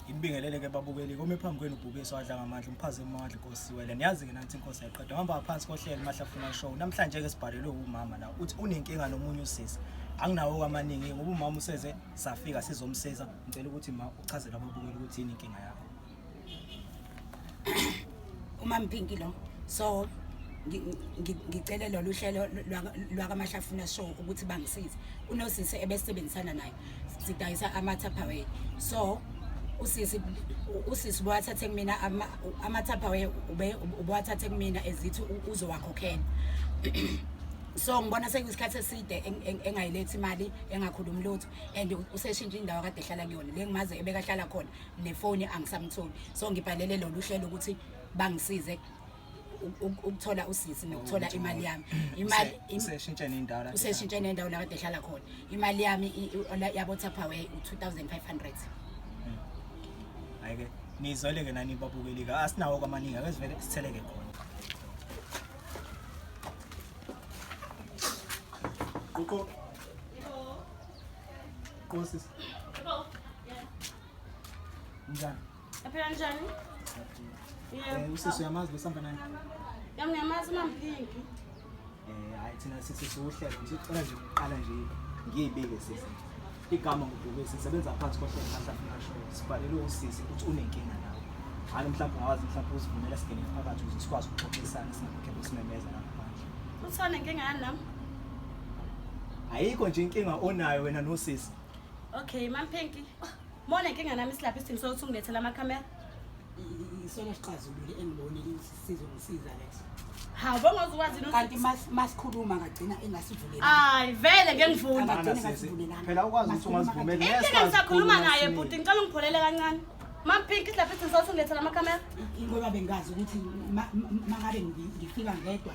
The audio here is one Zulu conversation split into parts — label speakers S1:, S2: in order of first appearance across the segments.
S1: ngibingelele-ke babukeli kome phambi kwenu ubhubesi wadla ngamandla umphazima amandla inkosi wele niyazi-ke nanthi inkosi yayiqeda uhamba ngaphansi kohlelo mahlafuna show namhlanje-ke sibhalelwe wumama la uthi unenkinga nomunye usisi anginawo kwamaningi ngoba umama useze safika sizomsiza ngicela ukuthi ma uchazele ababukeli ukuthi yini inkinga yakho
S2: umampinki lo so ngicele lolu hlelo lwakaMashafuna show ukuthi bangisize kunosisi ebesebenzisana naye sidayisa ama-tupperware so usisi usisi ubuwathathe kumina ama-tupperware ubuwathathe kumina ezithi uzowakhokhela so ngibona sekuyisikhathi eside engayilethi imali engakhulumi lutho and useshintshe indawo kade ehlala kuyona le ngimaze ebekahlala khona nefoni angisamtholi so ngibhalele lolu hlelo ukuthi bangisize ukuthola usisi nokuthola imali yami imali useshintshe nendawo
S1: la useshintshe nendawo la kade ehlala
S2: khona imali yami yabo Tupperware u2500
S1: ayike nizoleke nani babukeli ka asinawo kwamaningi akezivele sitheleke khona Kuko Nkosi. Njani? Aphela njani? Yebo. Eh, usisi uyamazi lo samba naye? Yami ngiyamazi
S3: mamphingi. Eh, hayi
S1: thina sisi siwuhlelo nje ucela nje uqala nje ngiyibike sisi. Igama ngudube sisebenza phansi kohlelo manje afuna show. Sibhalele usisi ukuthi unenkinga nawe. Hayi mhlawumbe ungawazi mhlawumbe uzivumela singene phakathi ukuze sikwazi ukuxoxisana singakho simemeza lapha. Uthona inkinga yani nami? Ayikho nje inkinga onayo wena nosisi. Okay, Mam
S3: Pinky. Mona inkinga nami silapha isidingo sokuthi ungilethele amakhamera.
S2: Isona sixazulule engibone sizongisiza leso. Hawu bongoze
S3: ukwazi no. Kanti mas
S2: masikhuluma ngagcina engasivuleli. Hayi vele ngeke
S3: ngivule. Ngagcina engasivulelanga. Phela
S1: ukwazi ukuthi ungazivumeli. Inkinga ngisakhuluma
S3: naye bhuti ngicela ungipholele kancane. Mam Pinky silapha isidingo sokuthi ungilethele amakhamera. Ingoba bengazi
S2: ukuthi mangabe ngifika ngedwa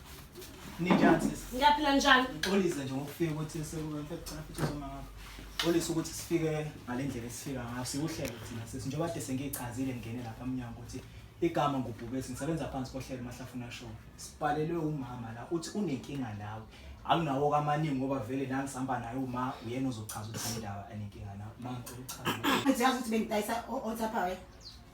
S1: Ninjani sisi? Ngiyaphila njani? Ngixolise
S3: nje ngokufika
S1: ukuthi sekuba mfethu cela futhi uzoma ngakho. Ngixolise ukuthi sifike ngale ndlela esifika ngayo. Siwuhlelo thina sisi njengoba kade sengiyichazile ngingene lapha emnyango ukuthi igama ngubhubesi ngisebenza phansi kohlelo mahlafuna show. Sibhalelwe umama la uthi unenkinga nawe. Akunawo kamaningi ngoba vele la ngisihamba naye uma uyena ozochaza ukuthi indaba anenkinga nawe. Uma ngicela uchaze. Ngiyazi ukuthi bengidayisa
S2: othaphayo.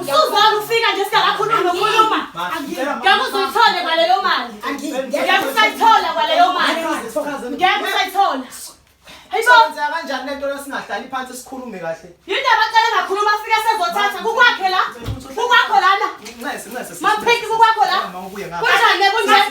S3: Usuzwana ufika nje singakakhulumi nokhuluma. Ngeke uzuyithole kwaleyo mali. Ngeke usayithola kwaleyo mali. Ngeke usayithola. Hayibo kanjani lento
S1: lesingahlali phansi sikhulume kahle. Yinto abacela ngakhuluma
S3: afika sezothatha kukwakhe la. Kukwakho lana. Nxese nxese. Maphiki
S1: kukwakho la.
S3: Kunjani kunjani?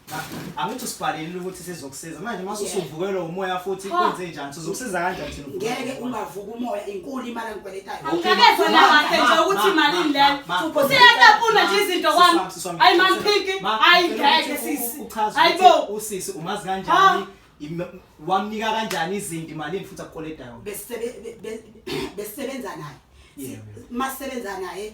S1: Angithi usibhalelile ukuthi sizokusiza. Manje mase usuvukelwa umoya futhi kwenze njani? Sizokusiza kanjani thina? Ngeke ungavuka
S2: umoya inkulu imali angikweletayo. Angikezwa la kahle
S3: nje ukuthi imalini le. Usiyatapuna nje izinto kwami. Hayi man phiki. Hayi ngeke sisi. Hayibo. Usisi umazi
S1: kanjani? Wamnika kanjani izinto imalini futhi akukoletayo? Besebenza
S2: naye. Masebenza naye.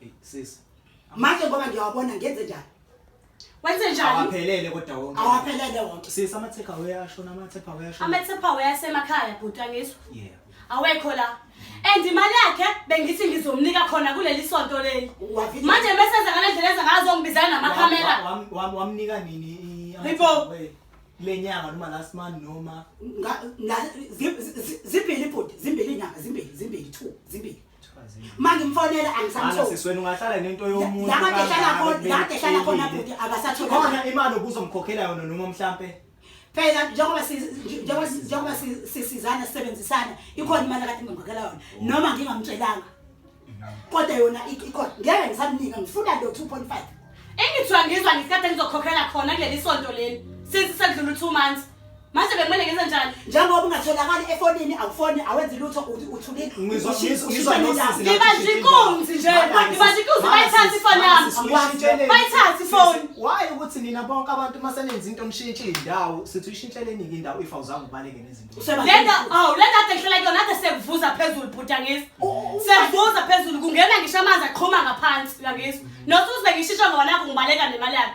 S4: Hey
S1: sis. Manje ngoba
S4: ngiyawabona ngenze njani? Wenze
S3: njani? Awaphelele kodwa wonke.
S1: Awaphelele wonke. Sis
S4: ama take away
S1: ashona ama take away ashona. Ama take away asemakhaya
S3: bhuti angisho. Yeah. Awekho
S1: la.
S3: And imali yakhe bengithi ngizomnika khona kuleli sonto leli. Manje bese
S4: enza ngale ndlela
S3: enza ngazo ngibizana namakhamera. Wamnika nini?
S1: Hayibo.
S3: lenyanga
S1: noma last month noma
S4: zimbili ibhodi zimbili inyanga zimbili zimbili two zimbili mangimfonela angisamsisweni ungahlala nento
S1: yomuntu ladehlala
S4: khona bhuti akasatholikhona imali
S1: obuzomkhokhela yona noma mhlampe phela
S4: njengoba njengoba sisizana sisebenzisana ikhona imali akade ngimkhokhela yona oh. noma ngingamtshelanga kodwa yona ikhona ngeke ngisamnika ngifuna lo 2.5 engithiwa ngizwa
S3: ngesikhathi engizokhokhela khona kuleli sonto leli since sekudlula u-two months manje bekumele ngenze njani njengoba ungatholakali
S4: efonini awufoni awenzi lutho uthi uthulile Ngizwa- ushi- ngizwa- ushisa
S1: ngizwa nendaba. noSisi.
S3: ngibaza inkunzi nje ngibaza inkunzi bayithathe ifoni yami Uyishintsheleni. Bayithathe ifoni. Sisi, why ukuthi nina
S1: bonke abantu uma senenza into mshintshe indawo sithi uyishintsheleni-ke indawo if awuzange ubaleke nezinto Useba- lento awu lento
S3: ade ngihlala kuyona ade sekuvuza phezulu bhuti angizwa Oh, sekuvuza phezulu kungena ngisho amanzi aqhuma ngaphansi uyangizwa nosuze ngishisho ngoba nakho ngibaleka nemali yakhe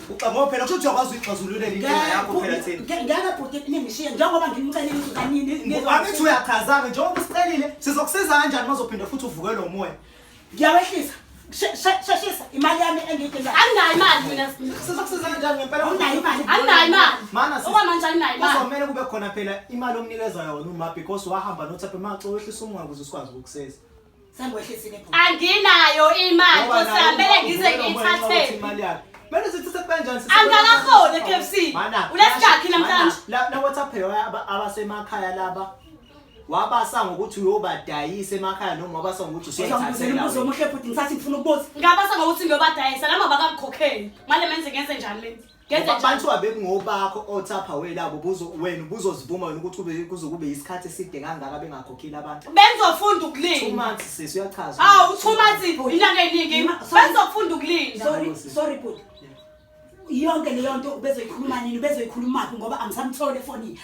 S1: Uxamowa phela kusho ukuthi uyakwazi uyixazululela inkinga yakho phela thina. Ngeke bhuti ningishiye
S4: njengoba ngimcelile ukuthi kanini. Wabethi uyakhazaka
S1: njengoba usicelile sizokusiza kanjani mazophinde futhi uvuke lo moya. Ngiyawehlisa.
S4: Sheshisa imali yami engiyidingayo. Anginayo imali mina.
S3: Sizokusiza kanjani
S1: ngempela? Anginayo imali. Anginayo
S4: imali. Mana
S3: sisi. Oba manje
S1: anginayo imali.
S3: Kuzomela kube khona phela
S1: imali omnikeza yona uma because wahamba nothaphe maxa wehlisa umoya ukuze sikwazi ukukusiza.
S4: anginayo imali
S3: kusihambele ngize ngiyithathele Manje
S1: sithatha kanjani sithatha angakafoni eKFC
S3: unesikhathi namhlanje la la WhatsApp
S1: abasemakhaya laba wabasa ngokuthi uyobadayisa emakhaya noma wabasa ngokuthi usuyathathela umbuzo omuhle
S4: futhi ngisathi ngifuna ukubuza ngabasa ngokuthi ngiyobadayisa
S3: noma bakamkhokheli manje menze ngenze njani mina Kenze Ngoba njalo. abantu abekungobakho
S1: othapha welabo buzo wena ubuzozivuma wena ukuthi kube kuze kube isikhathi eside kangaka bengakhokhile abantu Benzofunda two ukulinda. months
S3: sisi uyachaza
S1: Awu two months inyanga
S3: eyiningi. Ma- sorry. Benzofunda ukulinda. sorry sorry
S4: bhuti yonke leyo nto ubezoyikhuluma nini ubezoyikhulumaphi ngoba angisamtholi efonini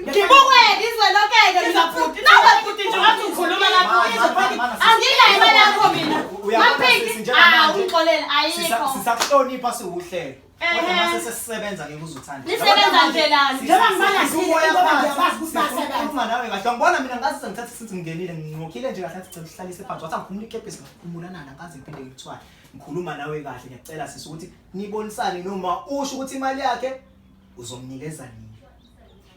S1: Ngibukweke izwe
S3: lokeke mina bhuti. Nawe bhuti nje wathi ukhuluma lapho izwe bhuti. Anginayo imali yakho mina. Maphiki. Ah ungixolele ayikho. Sisakuhlonipha
S1: siwuhlelo. Kodwa mase sesisebenza ke kuzothanda. Nisebenza nje lana.
S3: Njengoba ngibala nje ngoba ngiyakwazi
S4: ukuthi basebenza. Uma nawe kahle ngibona
S1: mina ngathi sengithatha isinzi ngingenile nginqokhile nje kahle ngicela uhlalise phansi. Wathi angikhumula ikepisi ngakhumulana nana ngaze ngiphinde ngikuthwale. Ngikhuluma nawe kahle ngiyacela sisi ukuthi nibonisane noma usho ukuthi imali yakhe uzomnikeza nini.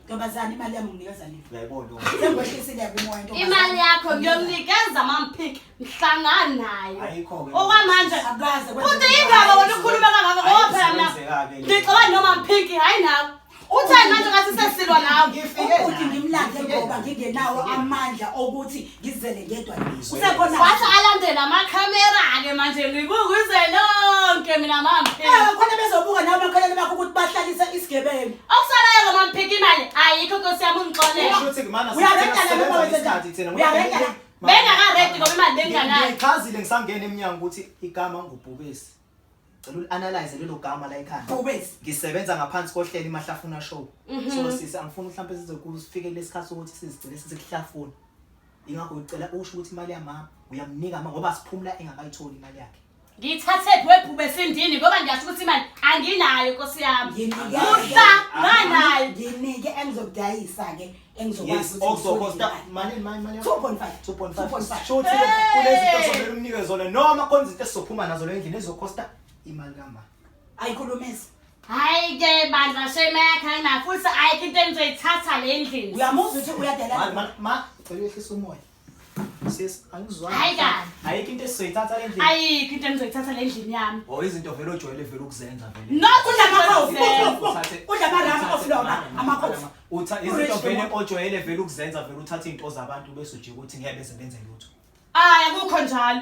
S1: Ntombazane
S4: imali yami nginikeza nini? Uyayibona uma. Sengwehlisileyo
S1: kumoya
S4: ntombazane. imali yakho
S3: ngiyomnikeza mamphik mhlangana nayo Ayikho ke. okwamanje
S1: Akukaze
S3: kwenzeke futhi lutho.
S4: indaba wena
S3: ukhuluma kangaka ngoba phela mina Ayisebenzekake le. ngixabana noma mphiki hhayi nawe uthani manje ngathi sesilwa nawe Ngifike Ubhuti la. ngimlande
S4: Ngifike ngoba la. ngingenawo amandla okuthi ngizele ngedwa ngizwe usekhona wathi alandele
S3: amakhamera ke manje ngikukuze lonke mina mamphiki eh khona bezobuka nawe
S4: makhaleni bakho ukuthi bahlalise isigebengu okusalayo lo mamphiki
S3: imali ayikho nkosi yami ungixolela usho ukuthi kumana uyarenta
S1: la noma wenze njani thina uyarenta
S4: la bengakaredi ngoba
S3: imali benginganayo ngichazile ngisangena
S1: emnyango ukuthi igama ngubhubesi Cela uli-analyze lelo gama la ekhaya. Bobes. Ngisebenza
S4: ngaphansi
S1: kohlelo iMahlafuna Show. Mhm. So sisi angifuni mhlawumbe size kufike lesikhathi sokuthi sizigcine sesikuhlafuna. Ingakho ngicela usho ukuthi imali yamama uyamnika mama ngoba siphumula engakayitholi imali yakhe. Ngithathephi webhube
S3: sindini ngoba ngiyasho ukuthi imali anginayo Nkosi yami. Nginike Musa nganayo. nginike
S4: engizokudayisa ke
S1: Yes, also
S4: cost mali mali mali 2.5 2.5
S1: sho ukuthi kunezinto zomele umnike zona noma khona izinto esizophuma nazo le ndlela ezokosta imali kamba ayikhulumisa hayi
S3: ke bandla shema yakhe ayina futhi ayikho into enizoyithatha le ndlini uyamuzwa ukuthi uyadelela
S4: ma ma cela uyehlisa
S1: umoya Sis, angizwani. Hayi kanti. Ayikho
S3: into esizoyithatha
S1: endlini. Ayikho into engizoyithatha
S3: endlini yami. Oh, izinto vele ojwayele
S1: vele ukuzenza vele. No, kudla amakhofi.
S4: Kudla amarama oflona amakhofi. Utha izinto vele
S1: ojwayele vele ukuzenza vele uthatha izinto zabantu bese ujike ukuthi ngeke beze benze lutho. Hayi akukho
S3: njalo.